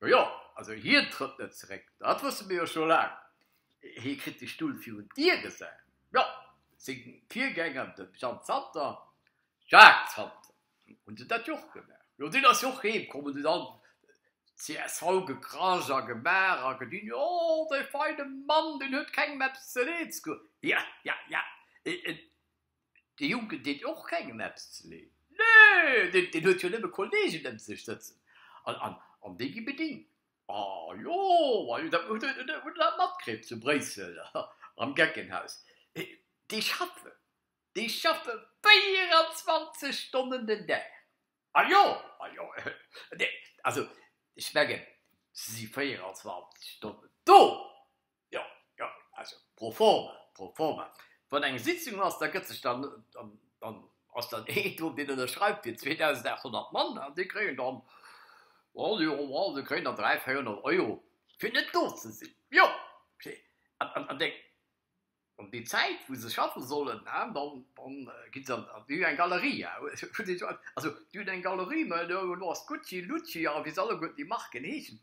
Jo, jo, also hien trëtt net zeréck, dat wësse mir jo scho laang. Hie kritt de Stull virun d'Dier gesat. Jo, seng Virgänger, de Jeanne Zanter, Jacques Zanter, hunn se dat jo och gemaach. Jo, deen ass jo och heem komm an huet all csv gekrasch a gemaach a gedinn, jo, dee feine Mann, deen huet kengem eppes ze leed ze goen. Ja, ja, ja. De Jonken deet och kengem eppes ze leed. Nee, deen huet jo nëmme Kolleegen ëm sech sëtzen an déi gi bedéngt. Ajo, ajo, dat huet e matkritt zu Bréissel am Geckenhaus. Déi schaffen, déi schaffe 24 Stonnen den Dag. Ajo, ajo, also ech mengen, se si 24 Stonnen do. Jo, jo, also pro forma, pro forma. Wann eng Sitzung ass, da gëtt sech dann, dann ass dann een do, deen ënnerschreift fir 2.800 Mann an déi kréien dann, allez, on va, se kréien dann 300, 400 Euro, fir net do ze sinn. Jo, an déi, an déi Zäit, wou se schaffe sollen, dann, dann ginn se an, déi hunn eng Galerie, ja, also déi hunn eng Galerie, mä do ass Gucci, Lucci a wéi se alleguerten déi Marken heeschen,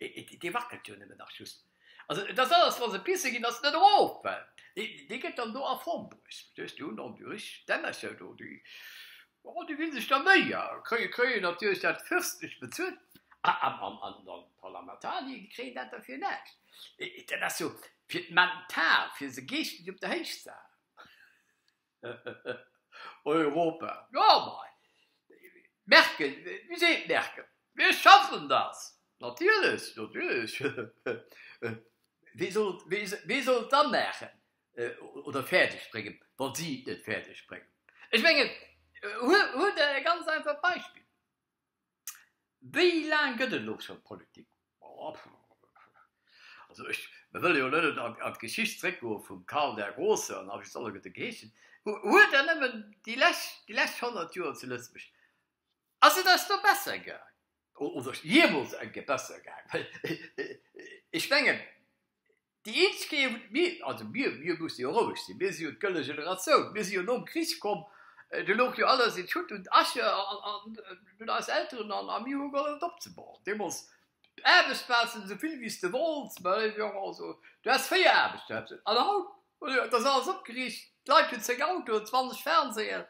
Dee wackelt jo nëmmen nach just. Also et ass alles, wa se pisse ginn, ass et net erof, well dee gëtt dann do a Form bruecht, verstees du, un an duerch d'Ennercher do, déi, oh, déi ginn sech da Méi a kréien natierlech dat fürstlecht bezuelt. An d'Parlamentarier kréien dat da fir näischt. Dat ass jo fir d'Mental, fir se geeschteg op der Héichsaal. Europa, jo mei Merkel, wéi seet d'Merkel, mir schaffen das, natierlech, natierlech, wie soll, wie soll et da maachen oder fäerdeg bréngen, wa si et net fäerdeg bréngen? Ech mengen, huel der e ganz einfacht Beispill. Wéi laang gëtt et elo scho Politik? Also ech, mer wëlle jo net an d'Geschicht zréckgoe vum Karl der Grosse an wéi se alleguer de geheeschen hu, huet der nëmmen déi lescht, déi lescht honnert Joer zu Lëtzebuerg, ass et eis do besser gaang? Oder jee-mools eng Kéier besser gaang? Well ech mengen, Déi eenzeg Kéier wou mir, also mir, mir musse jo roueg sinn, mir si jo d'gëlle Generatioun, mir si jo nom Krich komm, do louch jo alles in Schutt und Asche un eis Elteren an mir hu gehollef et opzebauen. Deemools Aarbechtsplazen, esou vill wéi s de wollts, mä jo also du has véier Aarbechtsplazen an haut, jo et ass alles opgeriicht, d'Leit hunn zéng Autoen, zwanzeg Fernseeën,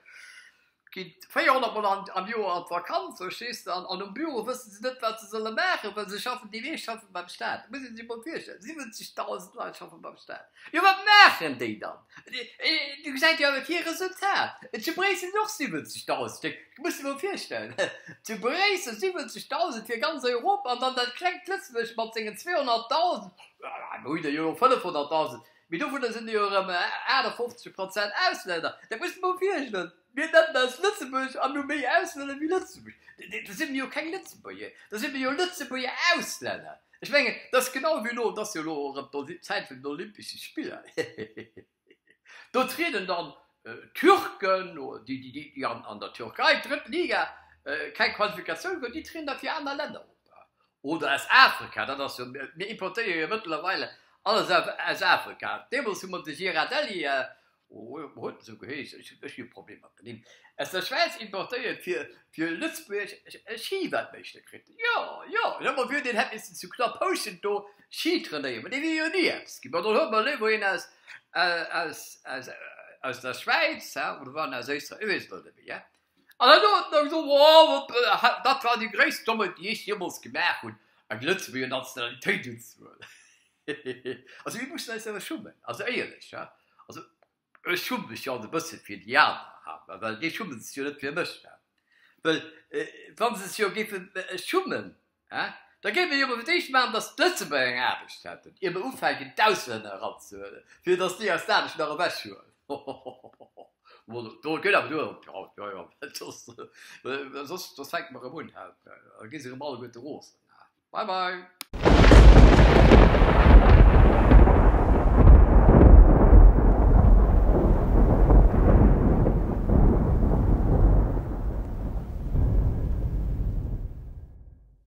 Gitt 400 Mol am Joer an d'Vakanz, verstees de, an um Büro wësse se net, wat se solle maachen, well se schaffen, déi meescht schaffe beim Staat. Et muss ee sech emol virstellen, 70.000 Leit schaffe beim Staat. Jo, wat maachen déi dann? Dir gesäit jo awer kee Resultat. Zu Bréissel sinn och 70.000 Stéck, du muss dir emol virstellen, zu Bréissel 70.000 fir ganz Europa, an dann dat klengt Lëtzebuerg mat sengen 200.000, jo, mir hu der jo elo 500.000. Mee dovunner sinn der jo erëm 58 Prozent Auslänner. Dat muss mer mol virstellen, mir nennen eis Lëtzebuerg an hu méi Auslänner wéi Lëtzebuerg. Da si mer jo keng Lëtzebuerger, da si mer jo Lëtzebuerger Auslänner. Ech mengen, et ass genau wéi elo, et ass jo elo och erëm d'Zäit vun den Olympesche Spiller, do trieden dann Türken oder déi, déi an der Türkei, drëtt Liga, keng Qualifikatioun hunn, déi trieden da fir aner Länner op. Oder aus Afrika, dat ass jo, mir importéiere jo mëttlerweil alles aus Afrika. Deemools hu mer de Girardelli, wéi huet en esou geheeschen, ech hu e Problem mat de Nimm, aus der Schwäiz importéiert, fir fir Lëtzebuerg e Schiweltmeeschter kritt. Jo, jo, ech hat mer wiert, deen hätt missen zu Knaphouschent do Schi trainéieren, mä dee wier jo ni eppes ginn. Bon, dann huele mer léiwer een aus aus aus aus der Schwäiz, oder war en aus Éisträich, ech weess et haut net méi. An dann huet en gesot, oh, dat war déi gréisst Dommheet, déi ech jeemools gemaach hunn, eng Lëtzebuerger Nationalitéit unzehuelen. Also mir mussen eis awer schummen, also éierlech. Also ech schumme mech jo alt e bësse fir déi aner, well déi schumme sech jo net fir mech. Well wa se sech jo géife schummen, Da géif ee jo fir d'éischt maachen, datt d'Lëtzebuerger eng Aarbecht hätten, ier mer ufänken d'Auslänner eranzehuelen, fir datt déi aus der Aarbecht nach ewechhuelen. Hohohoho. Soss fänke mer erëm un hei, da gi se erëm alleguerte rosen. Bye bye.